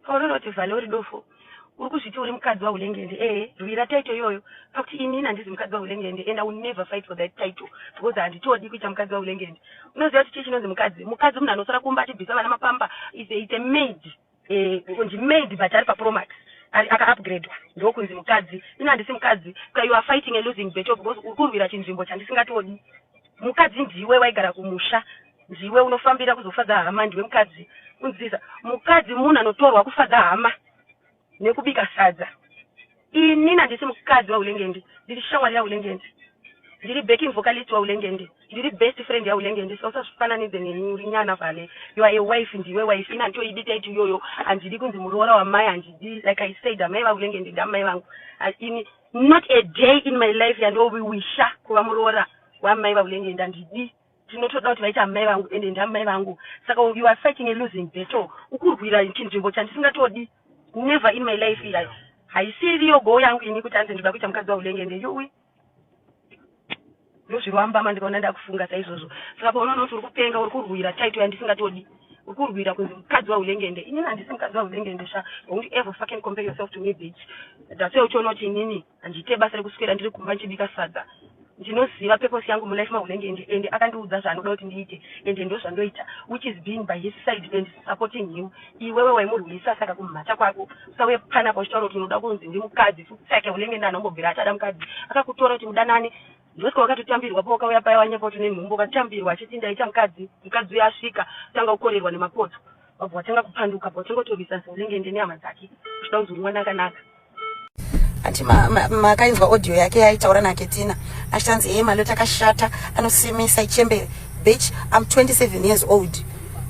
Paunoona kuti Vale uri dofo uri kuzviti uri mukadzi wahulengende ee eh, rwira title iyoyo pakuti ini handizi mukadzi wahulengende and i will never fight for that title because handitodi kuita mukadzi wahulengende unoziva kuti chii chinonzi mukadzi mukadzi munhu anosara kumba achibvisa vana mapamba is a, is a maid eh, kunzi maid but ari papromax akaupgradwa ndokunzi mukadzi ini handisi mukadzi ka you are fighting a losing battle because uri kurwira chinzvimbo chandisingatodi mukadzi ndiwe waigara kumusha Ndiwe unofambira kuzofadza hama ndiwe mukadzi kunzisa mukadzi munhu anotorwa kufadza hama nekubika sadza ini nandisi mukadzi waulengendi ndiri shamwari yaulengendi ndiri backing vocalist waulengendi ndiri best friend yaulengendi so usazvifananidze neni uri nyana vale you are a wife ndiwe wife ini handitoidi taiti iyoyo handidi kunzi muroora wamai handidi like i said amai vaulengendi ndamai vangu ini not a day in my life yandoviwisha kuva muroora wamai vaulengendi handidi Ndinotoda kuti vaite amai vangu ende ndamai vangu saka you are fighting a losing battle ukurwira chinzvimbo chandisingatodi never in my life iya haisiriyo goal yangu ini kuti anzi ndinoda kuita mukadzi waulenge ende yuwi ndozvirova mbama ndikaona ndakufunga saizvozvo saka paunoona kuti uri kupenga uri kurwira title yandisingatodi ukurwira kunzi mukadzi wahulengende inini handisi mukadzi wahulengende sha don't ever fucking compare yourself to me bitch that's why uchiona kuti inini Handiite basa rekuswera ndiri kumba ndichibika sadza. Ndinoziva purpose yangu mulife maHunenge and and akandiudza zvaanoda kuti ndiite and ndozvandoita which is being by his side and supporting him. Iwewe waimurwisa saka kumhata kwako usauye panapa uchitaura kuti unoda kunzi ndimukadzi futseke Hunenge nani wambobvira ati ada mukadzi akakutora kuti mudanane Ndosvika wakatotambirwa po wakauya paya wanyepo tune nhumbu ukatambirwa achiti ndaita mukadzi mukadzi uya asvika tanga kukorerwa nemapoto wabva watanga kupanduka po tanga kutorwisa zingengende nehama dzake uchida kunzi uri mwana akanaka ati makainzwa audio yake yaitaura naketina achitanzi hee maloti akashata anosemesa ichembere bitch i'm 27 years old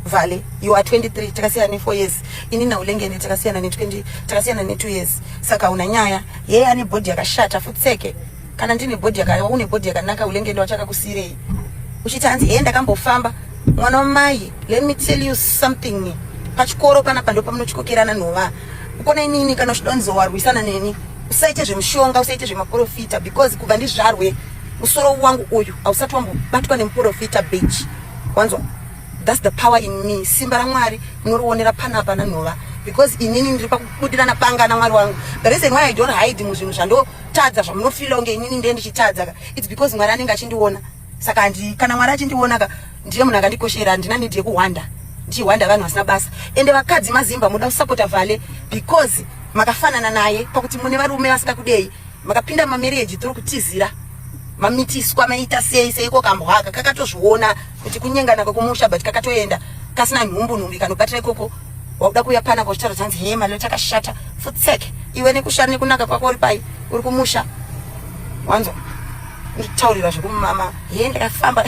vale you are 23 takasiyana ne 4 years ini naulengene takasiyana ne 20 takasiyana ne 2 years saka una nyaya yeye ane body yakashata futseke kana ndine body yakaiwa une body yakanaka ulenge ndawachaka kusirei uchiti hanzi hee ndakambofamba mwana wamai let me tell you something pachikoro panapa ndo pamunochikokerana nhova ukona inini kana uchida kunzi warwisana neni usaite zvemushonga usaite zvemaprofita because kubva ndizvarwe musoro wangu uyu hausati wambobatwa nemuprofita bich wanzwa thats the power in me simba ramwari munorionera panapa nanhova because inini ndiri pakubudirana panga namwari wangu the reason why i don't hide muzvinhu zvando tadza zvamunofila kunge inini ndiye ndichitadza ka its because mwari anenge achindiona saka handi kana mwari achindiona ka ndiye munhu akandikoshera handina nidi yekuhwanda ndichihwanda vanhu vasina basa ende vakadzi mazimba muda kusapota vhale because makafanana naye pakuti mune varume vasika kudei makapinda mamereji tiri kutizira mamitiswa maita sei seiko kambwaka kakatozviona kuti kunyengana kwekumusha but kakatoenda kasina nhumbu nhumbi kanobatira ikoko wakuda kuuya pana kochitaura chanzi hee malilo chakashata futseke iwe nekushara nekunaka kwako uri pai uri kumusha wanzwa nditaurira zvekumama hee ndakafamba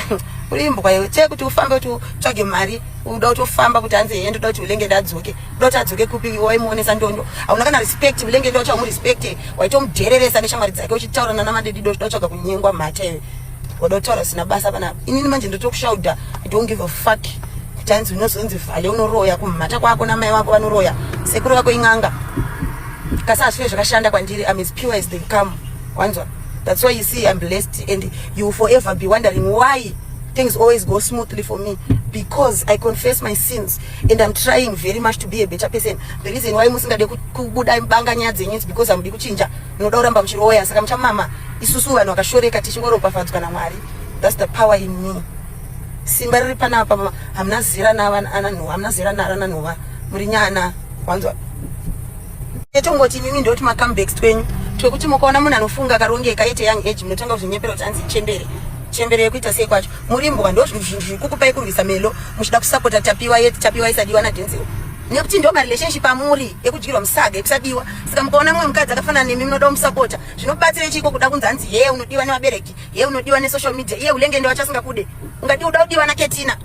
uri imbwa iwe chee kuti ufambe kuti utsvage mari uda kuti ufamba kuti hanzi hee ndoda kuti ulenge ndadzoke uda kuti adzoke kupi waimuonesa ndondo hauna kana respect ulenge ndoda kuti aumurespecte waitomudhereresa neshamwari dzake uchitaurana namadedido uchida kutsvaga kunyengwa mhata iwe Wadotaura zvisina basa pana inini manje ndotokushauda I don't give a fuck kuti hanzi unozonzi vhale unoroya kumhata kwako namai wako vanoroya sekuru vako in'anga kasi hazvive zvakashanda kwandiri I'm as pure as they come wanzwa that's why you see I'm blessed and you will forever be wondering why things always go smoothly for me because I confess my sins and I'm trying very much to be a better person the reason why musingade kubudai banga nyaya dzenyu is because hamudi kuchinja munoda kuramba muchiroya saka muchamama isusu vanhu vakashoreka tichingoropafadzwa namwari thats the power in me simba riri panapa hamuna zera naananhuva hamuna zera narananhuva muri nyana wanzwa etongoti imimi ndoti macomebacks twenyu twekuti mukaona munhu anofunga akarongeka yete young age munotanga kuzvinyepera kuti anzi chembere chembere yekuita sei kwacho muri mbwa ndo zvinhu zvinhu zvikukupai kurwisa melo muchida kusapota tapiwa yeti tapiwa isadiwa nadenziwo nekuti ndo marelationship amuri ekudyirwa musaga ekusadiwa saka mukaona mumwe mukadzi akafanana nemi munoda kumusapota zvinobatsirei chiiko kuda kunzi hanzi hee unodiwa nevabereki hee unodiwa nesocial media iye ulenge ndiwacho asingakude ungadi uda kudiwa naketina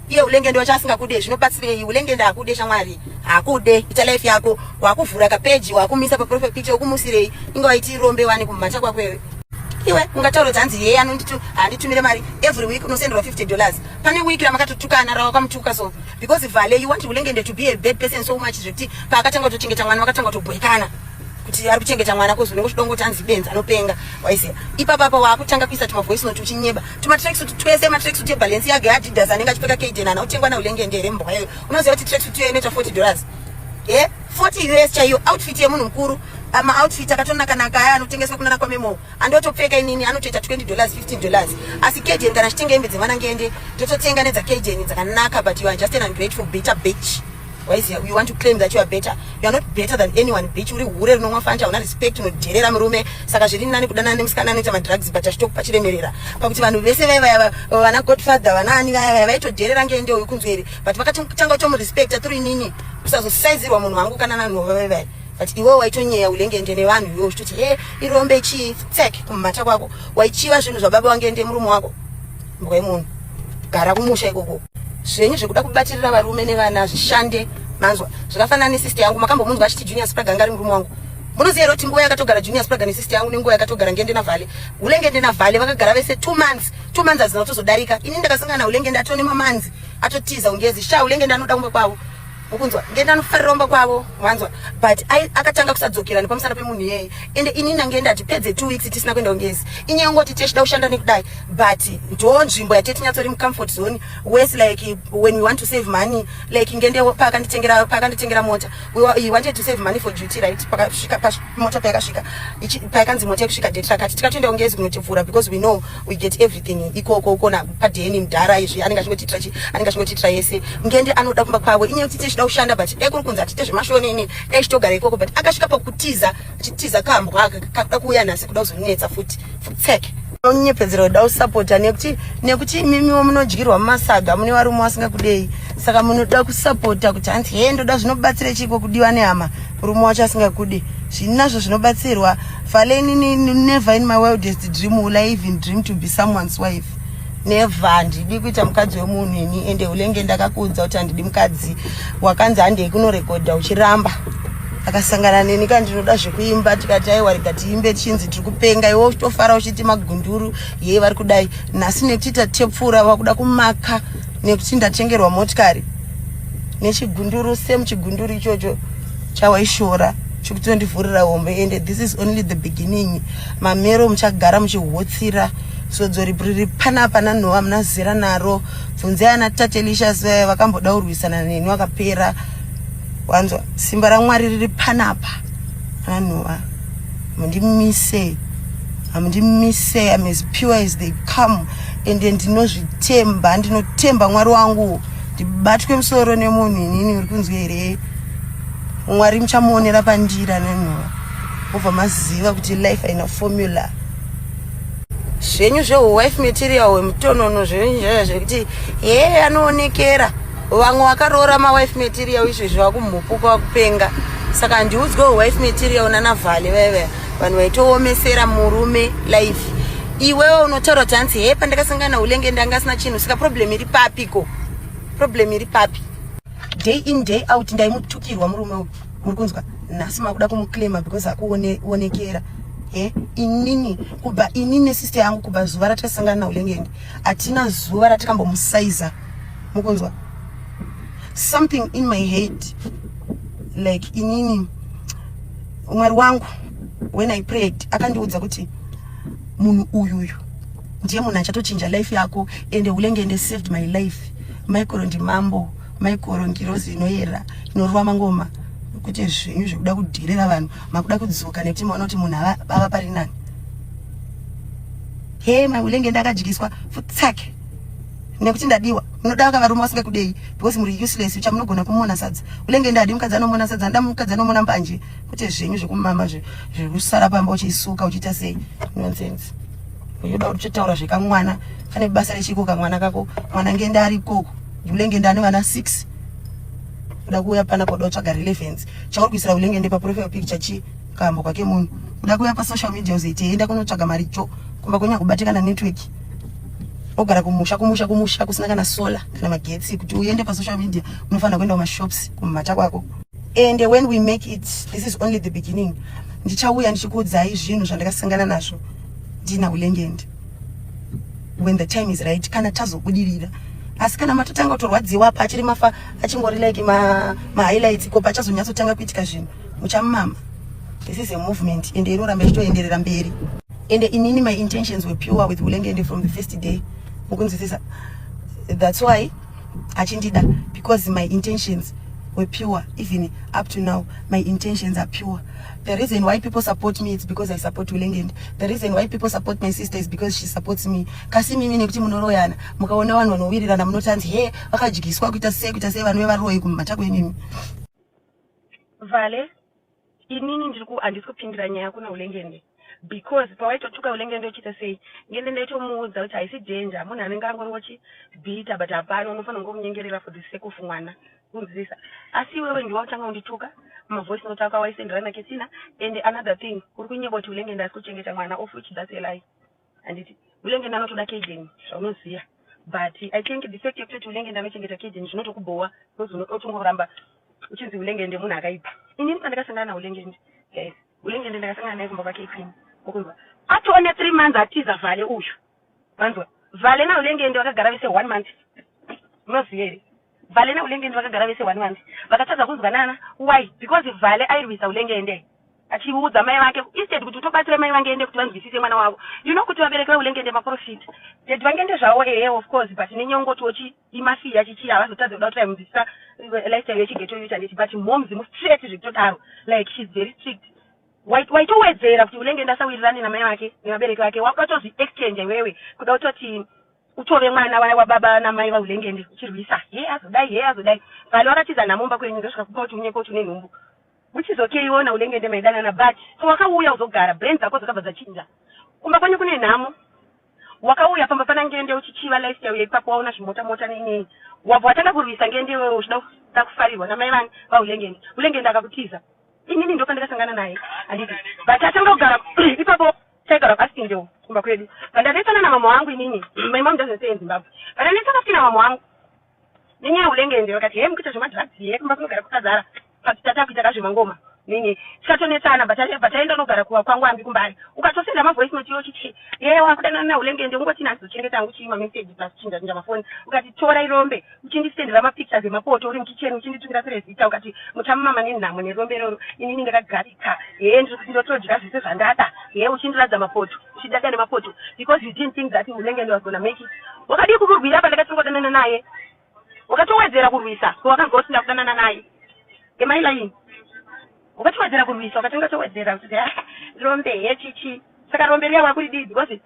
iye ulenge ndiwacho asingakude zvinobatsirei ulenge ndaakude shamwari haakude ita life yako wakuvhura kapeji wakumisa paprofile picture ukumusirei inge waiti rombe wani kumhacha kwako iwe iwe ungataura kuti hanzi heye anonditi handitumire mari every week unosenderwa 50 dollars pane week ramakatotukana rawakamutuka so because vale you want ulengende to be a bad person so much zvekuti paakatanga kutochengeta mwana vakatanga kutobhoikana kuti ari kuchengeta mwana kozi unenge uchidongo kuti anzi benzi anopenga waiziva ipapa apa waakutanga kuisa tumavoice note uchinyeba tumatracksuit twese matracksuit ebalance yake adidas anenge achipfeka kaden ana utengwa naulengende here mbwa iyoyo unoziva kuti tracksuit iyoyo inoita 40 dollars e 40 us chaiyo outfit yemunhu mukuru maoutfit akatonakanaka aya anotengeswa kunana kwamemoo andotopfeka inini anotoita 20 dollars 15 dollars asi kejeni kana achitenga hembe dzemwana ngende ndototenga nedza kejeni dzakanaka but you are just an ungrateful bitter bitch waiziya you want to claim that you are better you are not better than anyone bitch uri hure rinomwa fanta hauna respect unodherera murume saka zviri nani kudanana nemusikana anoita madrugs but achitokupa chiremerera pakuti vanhu vese vaya vaya vana godfather vana ani vaya vaya vaitodherera ngende uyu kunzweri but vakatanga kutomurespecta through inini kusazosaizirwa munhu wangu kana nanhu vaya vaya but iwewe waitonyeya ulengende nevanhu iwewe uchitoti he irombe chii tsek kumumata kwako waichiva zvinhu zvababa wangende murume wako mbwa yemunhu gara kumusha ikoko zvenyu zvekuda kubatirira varume nevana zvishande manzwa zvakafanana nesister yangu makambomunzwa achiti junior spraga anga ari murume wangu munoziva here kuti nguva yakatogara junior spraga nesister yangu nenguva yakatogara ngende navhale ulengende navhale vakagara vese two months two months hadzina kutozodarika ini ndakasangana na ulengende atone mamanzi atotiza ungezi sha ulengende anoda kumwe kwavo ukunzwa ngende anofarira umba kwavo wanzwa but akatanga kusadzokera nepamusana pemunhu iyeye ende inini ange ndati pedze two weeks tisina kuenda kungezi inyaya ngoti tichida kushanda nekudai but ndo nzvimbo yatete nyatsori mucomfort zone wes like when we want to save money like ngende paakanditengera paakanditengera mota he wanted to save money for duty right pakasvika mota payakasvika payakanzi mota yekusvika date rakati tikatoenda kungezi kunotivhura because we know we get everything ikoko ukona padeni mdhara izvi anenge achingotiitira chi anenge achingotiitira yese ngende anoda kumba kwavo inyaya kuti tichida kushanda but dai kuri kunzi atiite zvemashonini dai chitogara ikoko but akasvika pakutiza achitiza kambwa aka kakuda kuuya nhasi kuda kuzonetsa futi futseke nyepedzero kuda kusapota nekuti nekuti imimiwo munodyirwa mumasaga mune varume vasingakudei saka munoda kusapota kuti hanzi hee ndoda zvinobatsira chiiko kudiwa nehama murume wacho asingakude zvinazvo zvinobatsirwa faleni never in my wildest dream will i even dream to be someone's wife never handidi kuita mukadzi wemunhu ini ende ulenge ndakakuudza kuti handidi mukadzi wakanzi handei kunorekodha uchiramba akasangana neni ka ndinoda zvekuimba tikati aiwa rega tiimbe tichinzi tiri kupenga iwe uchitofara uchiti magunduru yei vari kudai nhasi nekuti tatepfura vakuda kumaka nekuti ndatengerwa motikari nechigunduru same chigunduru ichocho chawaishora chikutondivhurira hombe ende this is only the beginning mamero muchagara muchihotsira sodzo riri panapa nanhowa muna zera naro bvunzai ana tatelicious vaya vakamboda kurwisana neni vakapera wanzwa simba ramwari riri panapa ananhowa mundimise hamundimise am as pure as they come ende ndinozvitemba ndinotemba mwari wangu ndibatwe musoro nemunhu inini uri kunzwa here mwari muchamuonera pandiri anonhuwa obva maziva kuti life haina formula zvenyu zvehuwife material wemutonono zvenyu zvaya zvekuti hee anoonekera yeah, vamwe vakaroora mawife material izvezvi vakumhupuka vakupenga saka ndiudzwe wife material nanavhale vaive vanhu vaitoomesera murume life iwewe unotaura kuti hanzi he pandakasangana ulenge ndanga asina chinhu saka problem iri papi ko problem iri papi day in day out ndaimutukirwa murume uyu muri kunzwa nhasi makuda kumuclaima because akuonekera e inini kubva inini sister yangu kubva zuva ratasangana naulengeni hatina zuva ratakambomusaiza mukunzwa something in my head like inini mwari wangu when i prayed akandiudza kuti munhu uyuyu ndiye munhu achatochinja life yako ende ulenge ende saved my life maikoro ndimambo maikoro ngirozi inoyera inorova mangoma kuti zvinyu zvekuda kudhirira vanhu makuda kudzoka nekuti maona kuti munhu ava pari nani hema ulenge ndakadyiswa futsake nekuti ndadiwa munoda vaka varume vasinga kudei because muri useless ucha munogona kumona sadza ulenge ndadi mukadzi anomona sadza nda mukadzi anomona mbanje kuti zvenyu zvekumama zvekusara pamba uchisuka uchiita sei nonsense uyoda kuti uchataura zvekamwana kane basa rechiko kamwana kako mwana ngenda ari ikoko ulenge ndani vana 6 uda kuuya pana koda utsvaga relevance chauri kuisira ulenge ndepa profile picture chi kambo kwake munhu uda kuuya pa social media uzoitei enda kunotsvaga mari cho kumba kwenya kubatikana network ogara kumusha kumusha kumusha kusina kana solar kana magetsi kuti uende pasocial media unofanira kuenda kumashops kumumata kwako and when we make it this is only the beginning ndichauya ndichikuudzai zvinhu zvandakasangana nazvo ndina ulengendi when the time is right kana tazobudirira asi kana matotanga kutorwadziwa apa achiri mafa achingori like mahighlights ma ko pachazonyatsotanga kuitika zvinhu muchamumama this is a movement ende inoramba ichitoenderera mberi ende inini my intentions were pure with hulengende from the first day mukunzwisisa that's why achindida because my intentions were pure even up to now my intentions are pure the reason why people support me it's because i support hulengende the reason why people support my sister is because she supports me kasi mimi nekuti munoroyana mukaona vanhu vanowirirana munoti hanzi he vakadyiswa kuita sei kuita sei vanove varoyi kumatako imimi vale inini ndiri ku handisi kupindira nyaya kuna ulengende because pawaitotuka ulengende uchiita sei ngende ndaitomuudza kuti haisi danger munhu anenge angongochi bhita but hapana unofanira kunge umunyengerera for the sake of mwana kunzivisa asi iwewe ndiwa utanga undituka mavoice note ako awaisenderana ketsina and another thing uri kunyeba kuti ulengende asi kuchengeta mwana of which that's a lie handiti ulenge ndanotoda kejeni zvaunoziva but i think the fact yekutoti ulenge ndanochengeta kejeni zvinotokubhowa because unotongovoramba uchinzi ulenge ndemunhu akaipa inini pandakasangana naulenge ndi guys ulenge ndi ndakasangana naye kumba kwake ikini ukunzwa atone three months atiza vhale uyu vanzwa vhale naulenge ndi vakagara vese one month unoziva here Vale na Ulengende vakagara vese one one vakatadza kunzwanana why because Vale airwisa Ulengende achiudza mai vake instead kuti utobatsira mai vangende kuti vanzwisise mwana wavo you know kuti vabereki veulengende maprofit ded vangende zvavo ehe of course but nenyongo tochi imafiya chichii havazotadze kuda kuti vaimudzidzisa eh, lifestyle yechigeto yuta ndichi but moms mustraight zvekutodaro like she's very strict waitowedzera kuti ulengende asawirirane namai vake nevabereki vake watozvi exchange iwewe kuda kutoti Utove mwana waya wababa namai vaulengende uchirwisa hee azodai hee azodai Vale wakatiza nhamo mumba kwenyu ndosvika kupa kuti unye koti une nhumbu uchizokeiwo naulengende maidanana but so wakauya uzogara brain dzako dzakabva dzachinja kumba kwenyu kune nhamo wakauya pamba pana ngende uchichiva lifestyle yaipapo waona zvimota mota neinei wabva watanga kurwisa ngende iwewe uchida kuda kufarirwa namai vani vaulengende ulengende akakutiza inini ndopandakasangana naye handiti but atanga kugara ipapo Taigara pasingle kumba kwedu pandanetsana namama wangu inini my mom doesn't stay in Zimbabwe pandanetsana futi namama wangu nenyaya yeulenge ende vakati hee mukuita zvemadrugs here kumba kunogara kwakazara but tatakuita kazvemangoma nini tikatonetsana but aenda unogara kuva kwangu ambi kumbari ukatosenda mavoice note yo chiti hee wakudanana neulenge ende ungoti nani zochengeta angu chii mameseji plus chinja chinja mafoni ukati tora irombe uchindisendera mapictures emapoto uri mukitchen uchinditukira perezita ukati muchamama nenhamo nerombe iroro inini ndakagarika hee ndiri kuti ndotodya zvese zvandada hee uchindiradza mapoto uchidada nemapoto because you didn't think that unenge ndiwas gonna make it wakadii kumurwira pandakatongodanana naye wakatowedzera kurwisa ko wakanzwa kuti ndakudanana naye emailaini wakatowedzera kurwisa wakatonga towedzera kuti rombe hee chichi saka rombe riya wakuridii because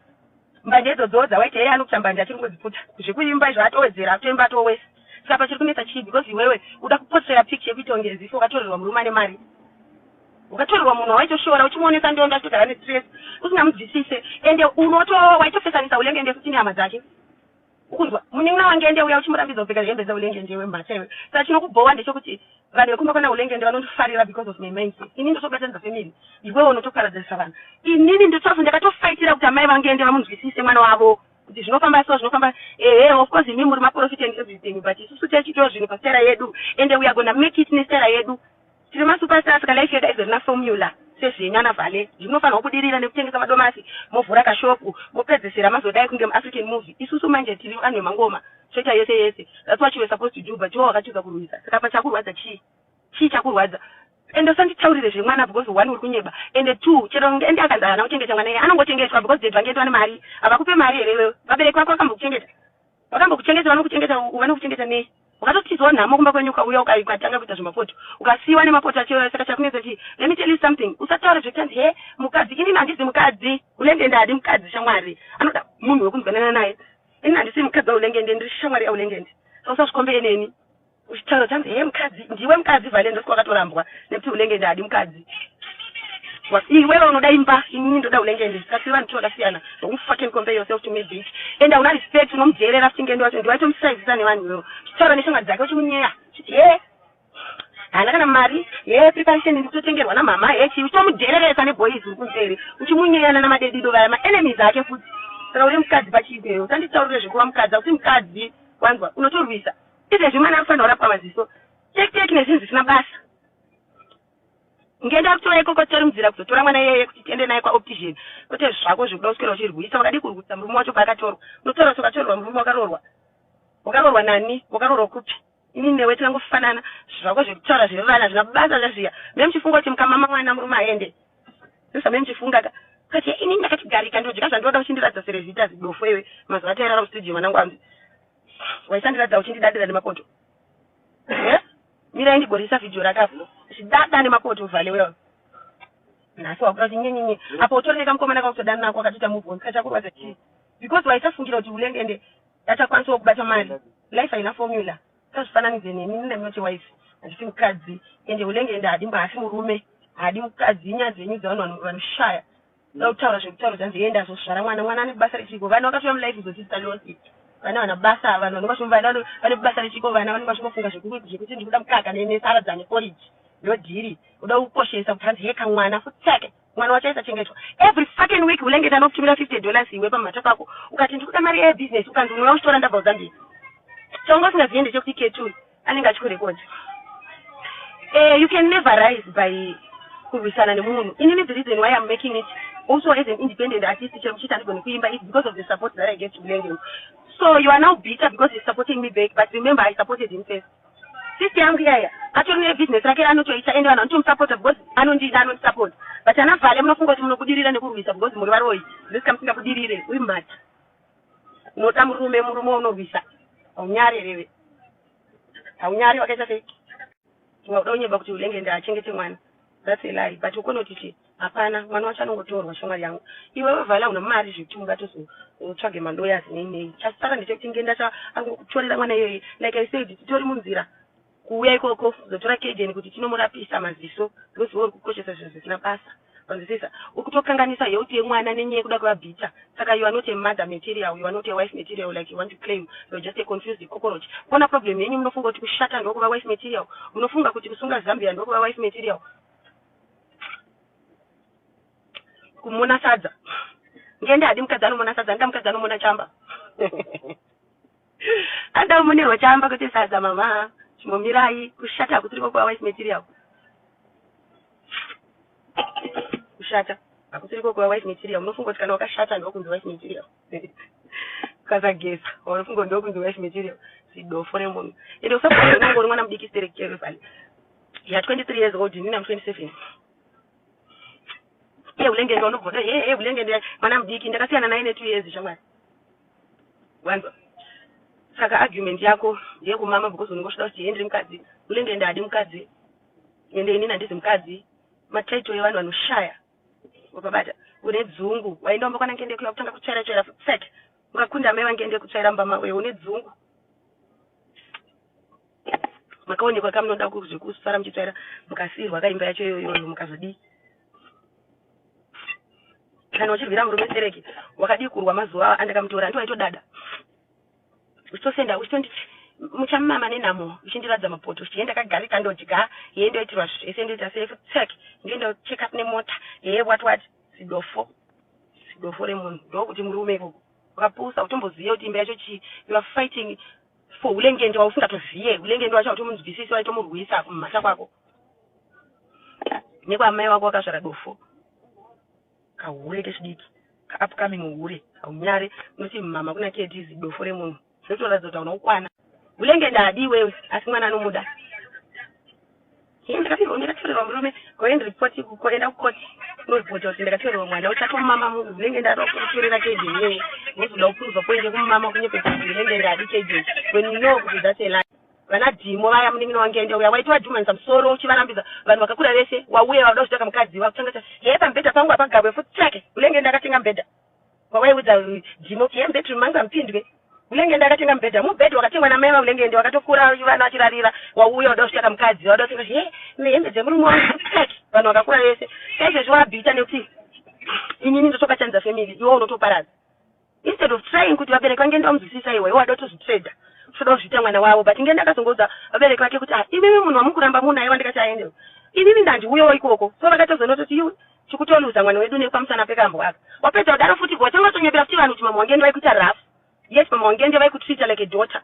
Mbanje idzodzowo dzawaita iye anokuta mbanje achiri kungodziputa zvekuimba izvo atowedzera akutoimba atoo worse saka pachiri kunetsa chii because iwewe uda kuposera picture yekuita kunge as if wakatorerwa murume ane mari ukatorerwa munhu wawaitoshora uchimuonesa ndondo achitogara nestress usingamubvisise ende unoto waitofesanisa ulenge ndefu tine hama dzake Ukunzwa munin'ina waNgende uya uchimurambidza kupfeka hembe dzaUlengende iwe mhacha iwe. Saka chinokubhowa ndechekuti vanhu vekumba kwana Ulengende vanondifarira because of my mindset. Ini ndotobatanidza family iwewe unotoparadzanisa vanhu. Inini ndotof ndakatofighter kuti amai vaNgende vamunzwisise mwana wavo kuti zvinofamba so zvinofamba ehe of course imi muri maporofita and everything but isusu taichitawo zvinhu pastaira yedu ende we are gonna make it nestaira yedu. Tiri masupastar saka life yedu haizorina formula sezvenyu ana Vale. Izvi munofanirwa kubudirira nekutengesa madomasi movhura kashop mopedzesera mazodai kunge muAfrican movie. Isusu manje tiri vanhu vemangoma choita yese yese that's what you were supposed to do but iwe wakatiza kurwisa saka apa chakurwadza chii? Chii chakurwadza? Ende usanditaurire zvemwana because one uri kunyeba ende two chero ende akanzi haana kuchengeta mwana iye anongochengetwa because dad vangeti vane mari havakupe mari here iwewe? Vabereki vako vakambokuchengeta? Vakambokuchengeta, vanokuchengeta uku, vanokuchengeta ne. Wakatotizwa nhamo kumba kwenyu ukauya ukai ukatanga kuita zvemapoto. Ukasiiwa nemapoto achiuraya saka chakunetsa chii? Let me tell you something. Usataure zvekutanzi he mukadzi inini handizi mukadzi. Ulengende haadi mukadzi shamwari. Anoda munhu wekunzwanana naye. Inini handisi mukadzi waulengende ndiri shamwari yaulengende. Saka usazvikombe eneni. Chitauro chanzi hee mukadzi ndiwe mukadzi vale ndosiko wakatorambwa nekuti unenge ndadi mukadzi iwewe unoda imba inini ndoda unenge ndi kasi vanhu tivakasiyana don't fucking compare yourself to me bitch and auna respect unomujeerera futi ngendo wacho ndiwaitomusaizisa nevanhu iwewe chitaura neshamwari dzake uchimunyeya chiti hee haana kana mari hee preparation ndikutotengerwa namama hee chii uchitomujeereresa neboys uri kunzeri uchimunyeyana namadedido vaya maenemies ake futi saka uri mukadzi pachiipeyo usanditaurire zvekuva mukadzi akuti mukadzi wanzwa unotorwisa Izvezvi mwana akufanira kurapwa maziso tek tek nezvinhu zvisina basa. Ngenda kutora ikoko titarimdzira kuzotora mwana iyeye kuti tiende naye kwaoptician kwete zvako zvekuda kuswera uchirwisa wakadii kurwisa murume wacho paakatorwa unotora kuti wakatorerwa murume wakarorwa wakarorwa nani wakarorwa kupi ini newe tinangofanana zvako zvekutaura zvevana zvina basa zvazviya me muchifunga kuti mukamama mwana murume aende ndozvame muchifunga ka kati ini ndakatigarika ndodya zvandoda uchindiratidza serezita zidofo iwe mazuva atairara mustudio mwanangu anzi waisandiradza uchindidadira nemakoto eh? mirai ndigorisa vhidhiyo raka zvidada nemakoto vhale wewe nhasi wakuda kuti nyenyenye apo utori nekamukomana kausodana nako akatoita muvon kachakurwadza chii because waisafungira kuti ulenge ende achakwanisawo kubata mari life haina formula sazvifananidze nemi nina minoti wife handisi mukadzi ende ulenge ende haadi mba hasi murume haadi mukadzi inyaya dzenyu dzevanhu vanoshaya Ndoda kutaura zvekutaura zvanzi enda azozvara mwana mwana ane basa rechiiko vana vakatouya mulife kuzotiitisa nonsense vana vana basa vanhu vanenge vachiti vana vane basa rechiiko vana vanenge vachingofunga zvekuti ndikuda mukaka nesaradza neporiji ndodhiri uda kukoshesa kuti hanzi heka mwana futi take mwana wacho aisachengetwa every fucking week ulengeta anokutumira 50 dollars iwe pamumhata pako ukati ndikuda mari ebusiness ukanzi unouya uchitora ndabva kuzambia chongo usingaziende chekuti ketuli anenge achikurekodha uh, eh, you can never rise by kurwisana nemunhu inini the reason why iam making it also as an independent artist chero kuchiti andigoni kuimba is because of the support that i get to blending so you are now bitter because he's supporting me back but remember i supported him first sister yangu iyaya atori nebusiness rake ranotoita ende vanhu vanotomusapota because anondida anondisapota but ana vhale munofunga kuti munobudirira nekurwisa because muri varoyi zvisinga musingabudirire uyu mhata unoda murume murume unorwisa haunyare reve haunyare wakaita sei unoda unyeba kuti ulenge ndaachengete mwana that's a lie but ukonoti ti hapana mwana wacho anongotorwa shamwari yangu iwe wevala una mari zvekuti ungatozotsvage malawyers nei nei chasara ndechekuti ngendacha angokutorera mwana iyoyi like i said titori munzira Kuuya ikoko kuzotora Kayden kuti tinomurapisa maziso because iwe uri kukoshesa zvinhu zvisina basa. Wanzwisisa? Uri kutokanganisa health yemwana nenyaya yekuda kuva bitter. Saka you are not a mother material, you are not a wife material like you want to claim. You are just a confused cockroach. Kona problem yenyu munofunga kuti kushata ndokuva wife material? Munofunga kuti kusunga zambia ndokuva wife material? Kumona sadza. Ngende hadi mukadzi anomona sadza, anoda mukadzi anomona chamba. Adam Munerwa chaamba kwete sadza mama chimbomirai kushata kutiriko kwa wife material kushata hakutiriko kwa wife material unofunga kuti kana wakashata ndokunzi wife material ukasageza unofunga ndokunzi wife material zidofo remunhu ende usaunongori mwana mudiki sterekere vale ya 23 years old ini nam 27 ye ulengende unobvota ye ye ulengende mwana mudiki ndakasiyana naye ne 2 years shamwari Wanzwa? Saka argument yako ndeyekumama because unenge uchida kuti Henry mukadzi, unenge ende haadi mukadzi, ende inini handizi mukadzi. Ma title evanhu vanoshaya. Wapabata. Une dzungu. Waenda kumba kwana Ngende kuya kutanga kutsvaira tsvaira futi sek. Ungakunda mai vaNgende kutsvaira mumba mavo iwe une dzungu. Makaonekwa kamunoda ku- zvekusara muchitsvaira mukasiirwa kaimba yacho iyoyo mukazodii? kana uchirwira murume stereki wakadii kurwa mazuva awa andakamutora andi waitodada uchitosenda uchitondi muchamama nenhamo uchindiradza mapoto uchiye ndakagarika ndodya yee ndoitirwa zvese ndoita sefsek ndoenda check up nemota yee wat wat zidofo zidofo remunhu ndokuti murume ikoko wakapusa utombozive kuti imba yacho chii you are fighting for ulengende wausingatozive ulengende wacho hautomunzwisisi waitomurwisa kumhata kwako nekwamai wako wakasvara dofo kahure kechidiki kaupcoming hure haunyare unoti mama kuna kds dofo remunhu zvinotoratidza kuti hauna kukwana ulenge ndadi iwewe asi mwana anomuda ndakapirwa ndakatorerwa murume goend report kuenda kukoti unoripota kuti ndakatorerwa mwana utsvake mumama mungu unenge ndada kutorera kejeni iwewe wozoda kukuruza kuende kumumama kunyepeta kuti unenge ndadi kejeni when you know kuti that's a lie Vana Dimo vaya munin'ina waNgende uya waiti wadhumanisa musoro uchivarambidza vanhu vakakura vese wauya vakuda kuchitaka mukadzi wakutanga ta hee pamubhedha pangu hapagabwe futi tsvake Hulengende akatenga mubhedha wawaiudza Dimo kuti hee mubedroom mangu hamupindwe Hulengende akatenga mubhedha mubhedha wakatengwa namai vaHulengende wakatokura vana vachirarira wauya uda kuchitaka mukadzi wauda kutenga kuti hee nehembe dzemurume wangu futi tsvake vanhu vakakura vese saizvezvi wabhita nekuti inini ndotobatanidza family iwe unotoparadza instead of trying kuti vabereki vange ndavamuzwisisa iwe iwe wadoti uzvitrader uchoda kuzviita mwana wavo but nge ndakazongoudza vabereki vake kuti ah imimi munhu wamukuramba munaye wandikati aendewo inini ndandiuyawo ikoko so vakatozonototi iwe tikutoluza mwana wedu nepamusana pekambo aka wapedza kudaro futi ko watanga watonyepera futi vanhu kuti mama wange ndivaikuita rough yes mama wange ndivaikutreata like a daughter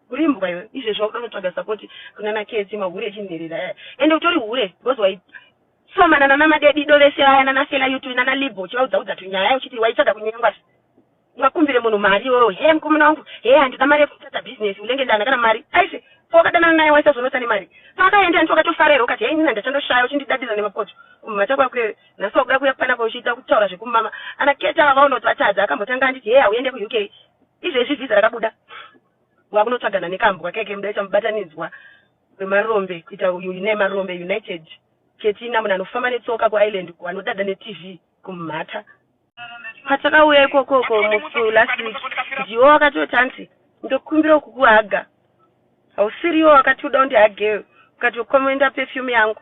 urimbwa iwe izvezvi wakuda kunotsvaga sapoti kunana kesi mahure echinherera aya ende utori hure because Somana nana Madedido vese vaya nana Fela Yutu nana Libho uchivaudza udza tunyaya uchiti waitsvaga kunyengwa se ungakumbire munhu mari iwewe hee mukomana wangu hee handina mari yekutadza business unenge ndana kana mari aise pawakadanana naye waisazonotsa nemari paakaenda hanti wakatofara here ukati hee inini handachandoshaya uchindidadira nemakoto kumama chako akurewe nhasi wakuda kuuya kukwana kwauchiita kutaura zvekumama ana keta ava vaona kuti vatadza akambotanga anditi hee hauende kuuk izvezvi vhiza rakabuda wakunotsvagana nekambwa keke mudai chamubatanidzwa wemarombe kuita uyu ine marombe united ketina munhu anofamba netsoka kuisland wanodada netv kumhata patakauya ikokoko musi last week ndiwo wakatoti anzi ndokumbira kukuhaga hausiriwo wakati uda undihageyo ukati ukomoenda perfume yangu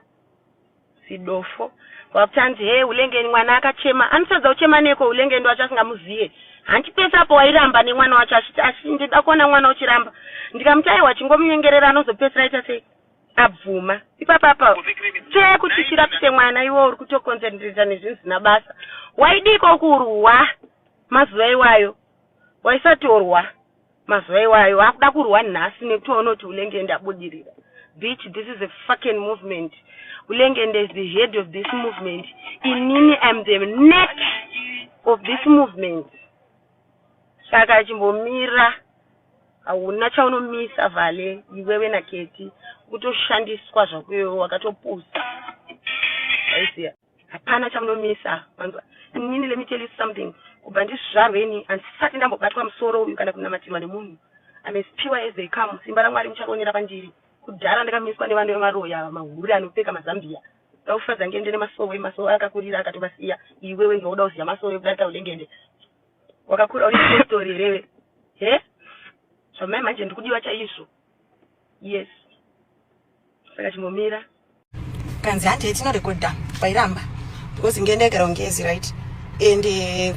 Zidofo. Wakutanzi hee Hulengeni mwana akachema. Anotadza kuchema neko Hulengeni wacho asingamuziye. Hanti pese apo wairamba nemwana wacho achiti asi ndida kuona mwana uchiramba. Ndikamuti aiwa chingomunyengerera anozopesera aita sei? Abvuma. Ipapa apa tsvee kuti chirapise mwana iwe uri kutokonzenderesa nezvinhu zina basa. Waidiko kurwa mazuva iwayo. Waisati orwa. Mazuva iwayo vakuda kurwa nhasi nekuti vanoti Hulengende abudirira. Bitch this is a fucking movement. Hulengende is the head of this movement. Inini I am the neck of this movement. Saka chimbomira hauna chaunomisa vale iwewe na Ketty kutoshandiswa zvako iwewe wakatopusa. Aisiya. Hapana chamunomisa manzwa. Inini let me tell you something. Kubva ndizvarwe ini handisati ndambobatwa musoro uyu kana kunamatirwa nemunhu. I'm as pure as they come. Simba raMwari mucharionera pandiri. Kudhara ndakamiswa nevanhu vemaroyi ava mahure anopfeka mazambia. Ndaufadza ngende nemasowe, masowe akakurira akatovasiya. Iwe wenge woda kuziva masowe kudarika ulengende. Wakakura uri story here iwe? He? Zvamai manje ndikudiwa chaizvo. yes saka chimbomira kanzi hanti yetinorekodha kwairamba because ngenda yagara ungezi right and eh,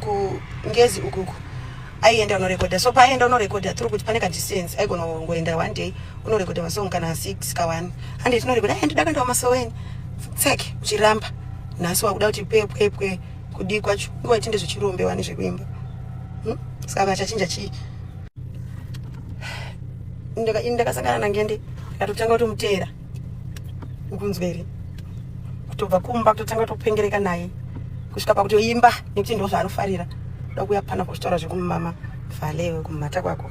kungezi ukuku aienda unorekodha so paaienda unorekodha tiri kuti pane kadistance aigona kungoenda one day unorekodha masong kana six ka one handi tinorekodha ai ndida kuendawo masoweni tsek uchiramba nhasi wakuda kuti pwepwepwe kudii kwacho nguva itinde zvichirombewa nezvekuimba hmm? saka vachachinja chii ini ndakasangana nangende ndatotanga kutomuteera ukunzwa here kutobva kumba kutotanga kutopengereka naye kusvika pakutoimba nekuti ndo zvaanofarira ndokuya pana kuzvitaura zvekumumama valewe kumumata kwako